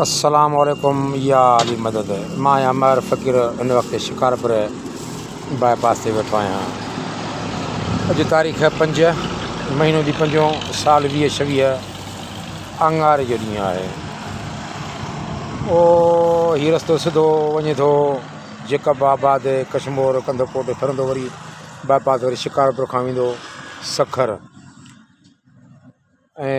السلام عليڪم يا علي مدد مان آهيان مهر فقير هن وقت شڪارپور باء پاس تي ويٺو آهيان اڄ تاريخ پنج مهينو جي پنجو سال ويهه ڇويهه اڱاري جو ڏينهن آهي او هي رستو سڌو وڃي ٿو جيڪب آباد ڪشمور ڪنڌ ڪوٽ ڦرندو وري باء پاس وري شڪارپور کان ويندو سکر ۽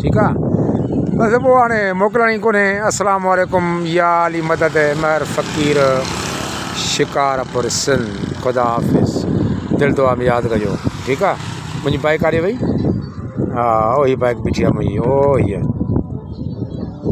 ٺيڪ آ بس پوء هاڻي موڪلڻي ڪونهي السلام عليڪم يا علي مدد مهر فقير شڪارپور سنڌ خدا حافظ دل دعا ۾ ياد ڪجو ٺيڪ آ منهنجي بائڪ ڪاڏي وئي ها اهي بائڪ بيٺي آ منهنجي اهو هي